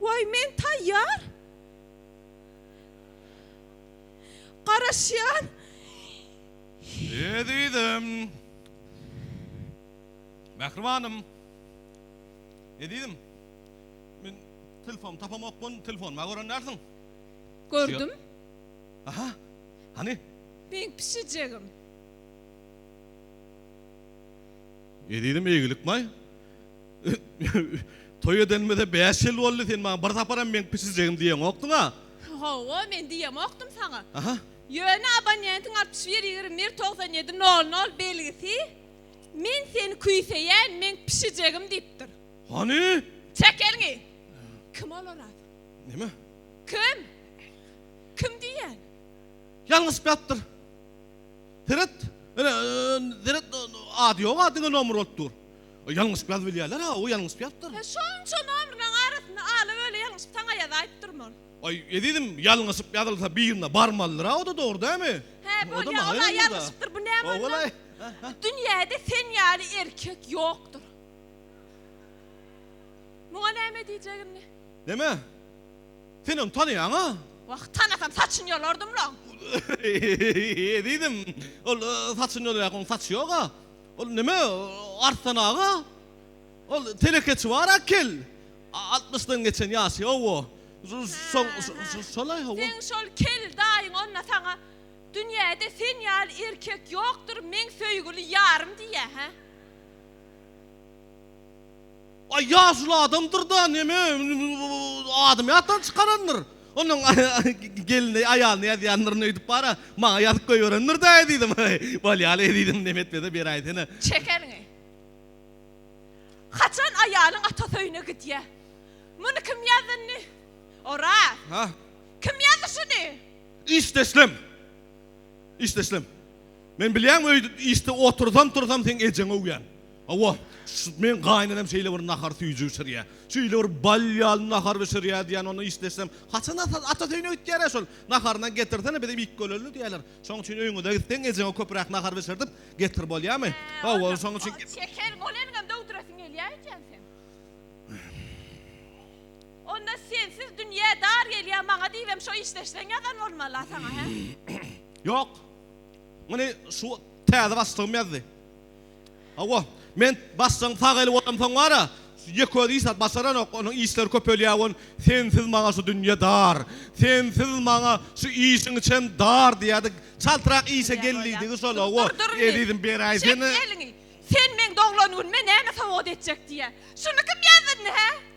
Waý, men taýýar. Garaşýan. Ezizim. Mähribanym. Ezizim. Men telefon tapamokman, telefonuma görendärsiň. Gördüm. Aha. Hany? Meň pişijegim. Ezizim eýgilik maý. Toý edenimize bäş ýyl boldy, sen maňa bir saparam meň pişijegim diýeňokdyň-a. Hawa, men diýemokdym saňa. Aha. Ýöne abonentiň altmyş bir ýigrimi bir togsan ýedi nol nol belgisi Men seni küýseýän, meň pişijegim diýipdir. Hany? Çek eliňi! Kim ol oraz? Näme? Kim? Kim diýýän? Ýalňyşyp ýatypdyr. Seret, ine, seret, ady ýog-a, diňe nomer bolup dur. Ýalňyşyp ýazyp bilýärler-hä, o ýalňyşyp ýazypdyr. He, şonça nomrlaryň arasynda ala-böle ýalňyşyp saňa ýazaýyp durman. Aý, ezizim, ýalňyşyp ýazylsa birine barmalydyr-a, o-da dogry dämi? Hä, bolýa, ol-a ýalňyşypdyr, bu näme onda? Dünýäde sen ýaly erkek ýokdur. Muňa näme diýjek indi? Näme? Sen ony tanaýaň-a? Wah, tanasam saçyny ýolardym-la. Ezizim, ol saçyny ýolaýarka, onuň saçy ýog-a. Ol näme, Arslan aga? Ol telekeçi bar-a kel. Altmyşdan geçen ýaşy, hawa. Şo-şo-şo, şolaý, hawa. Seň şol kel daýyň onda saňa, Dünýäde sen ýaly erkek ýokdur, meň söýgüli ýarym diýýä, hä? Aý ýaşuly adamdyrda neme adymy ýatdan çykarandyr. Onuň gelni aýalyna ýazýandyryn öýdüp bara maňa ýazyp goýberendirda ezidim. Bolýaly ezidim neme etmese beräýsene. Çek eliňi. Haçan aýalyň atasy öýüne gidýä. Muny kim ýazyndy? Oraz. Hä? Kim ýazdy şuny? Işdeşlem. Işdeşlem. Men bilýän öýde işde otursam tursam seň ejeňi öwýän. Hawa, şu meň gaýynenem şeýle bir nahar süýji bişirýä. Şeýle bir bal ýaly nahar bişirýä diýýän ony işleşsem. Haçan ata ata söýüne gitýärä şol. Naharyny getirsene bizem iýip gölerli diýýäler. Şoň üçin öýňüze gitseň ejeňe köpräk nahar bişirdip getir bolýamy? Hawa şoň üçin. Şeker bolanyňam döwdüresiň gelýä öýdýän sen. Onda sensiz dünýä dar gelýä maňa diýibem şo işleşseň ýazan bolmala saňa hä? Ýok. Muny şu täze başlygym ýazdy. Hawa, men başlygyň sag eli bolamsoň bar-a, ýeközi iş zat başaranok, onuň işleri köpelýär we Sensiz maňa şu dünýe dar, sensiz maňa şu işiň içem dar diýýärdi. Çaltrak işe gel diýdigi şol-a, wo, ezizim, beräý seni. Çek eliňi! Sen meň doglan günüme näme sowgat etjek diýýä. Şuny kim ýazdy indi, hä?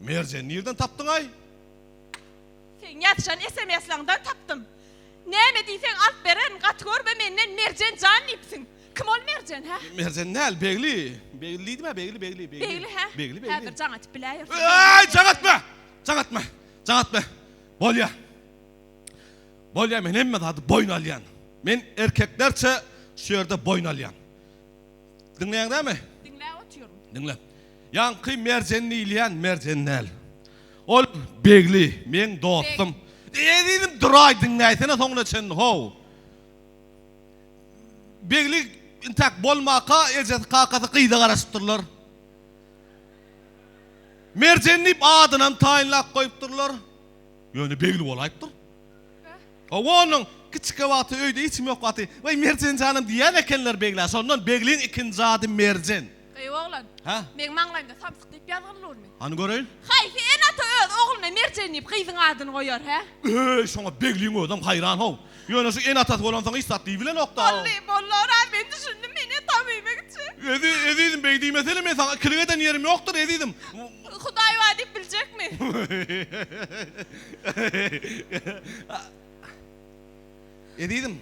Merjen nirden tapdyňaý? Seň ýazyşan esemesleňden tapdym. Näme diýseň alyp bererin gaty görme menden Merjen jan diýipsiň. Kim ol Merjen hä? Merjen däl Begli. Begli diýdimä Begli Begli Begli. Begli hä? Begli Begli. Häzir jaň atyp biläýersiň. Öýýäý jaň atma! Jaň atma! Jaň atma! Bolýa. Bolýa men hemme zady boýun alýan. Men erkeklerçe şu ýerde boýun alýan. Diňleýäň näme? Diňläp otyryn. Diňle. Ýaňky Merjen diýilýän Merjen däl. Ol Begli, meň dostum. Beg. Ezizim duraý diňläýsene soňuna çenli how. Begli intäk bolmaka ejesi kakasy gyza garaşypdyrlar. Merjen diýip adynam taýynlap goýupdyrlar. Ýöne Begli bolaýypdyr. Hawa onuň kiçikä wagty öýde hiç kim ýok wagty, Weý Merjen janym diýýän ekenler Beglä. Şondan Begliň ikinji ady Merjen. Eý oglan. Hä? Meň maňlaýymda samsyk diýip ýazgylylurmy? Hany göreýin. Haýsy ene-ata öz ogluna Merjen diýip gyzyň adyny goýar, hä? Öý, şoňa Begliň özem haýran-how. Ýöne şu ene-atasy bolansoň hiç zat diýibilenok-da. Boldy, boldy oraz, men düşündim, meni tabyýmek üçin. Ezi, ezizim, beý diýmesene, men saňa ikilik eden ýerim ýokdur, ezizim. Hudaý bar diýip biljekmi? Ezizim,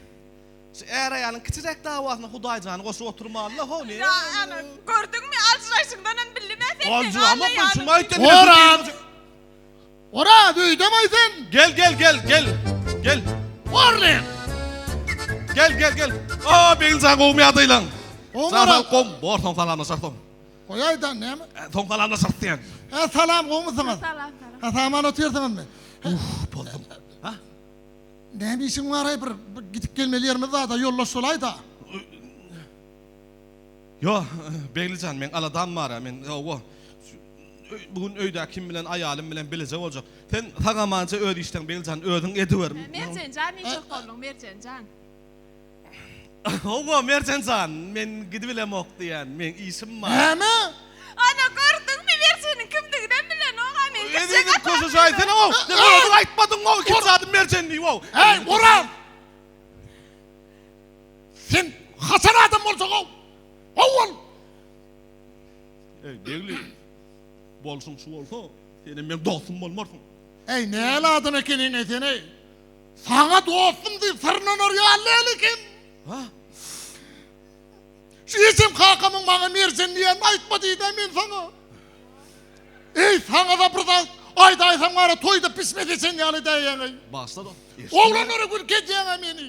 şu är-aýalyň kiçijek dawasyna Hudaýjany goşup oturmaly-la, howly. Ýa, ana, gördüňmi, aljyraýşyňdan hem bildim-ä sen meni Aljyramak bolsun, şuňa aýtdym. Oraz! Oraz, öýdem-aý sen? Gel, gel, gel, gel, gel. Horlen! Gel, gel, gel. O, Begiljan, gowmy ýagdaýlaň? Gowmy, Oraz? Sag-salyk, gowmy? Borsaň, salamlaşarsyň. Goýaýda näme? Soň salamlaş yrt diýen. Hä salam gowmysyňyz? Salam salam. Hä saman otyrsyňyzmy? Uff boldum. Ha? Näme işiň baraý bir gidip gelmeli ýerimiz barda ýoldaş bolaýda. Ýo Beglijan meň aladam bara men owo bu gün öýdä kim bilen aýalym bilen bileje boljak. Sen sag amanja öz işleň Beglijan özüň ediwer. Merjenjan niçik bolduň Merjenjan? Hawa, Merjen jan, men gidibilemok diýýän, meň işim bar. Näme? Ana, gördüňmi, Merjeniň kimdiginem bilenok-a, men gitjek Eziziň atam köşe diýdi. jaýsene-ow! Diňe özüň aýtmadyň-ow, ikinji adam Merjen diýip-ow! Äý, Oraz! Sen haçan adam bolsaň-ow? Ho-ol! Äý, Begli, bolşuň şu bolsa, senem meň dostum bolmarsyň. Äý, näl adam ekeniň-eý sen-eý? Saňa dostum diýip syrnanar ýaly däl ekenim. Ha? Şu geçen kakamyň maňa Merjen diýenini aýtma diýdi-ä men saňa. Eý, saňa-da bir zat aýdaýsam gara toýda pişme seçen ýaly däýýäň-eý. Bagyşla dogry. Oglanlara gülki edýäň-ä meni.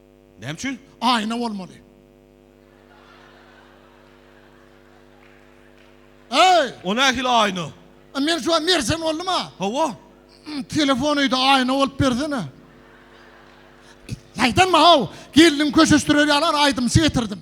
Näme üçin? Aýna bolmaly. Eý! O nähili aýna? A men şu an merjen boldum a. Hawa. Telefon öýde aýna bolup bersene. Şaýtanma haw, gelniň köşeşdirer ýaly aýdymçy getirdim.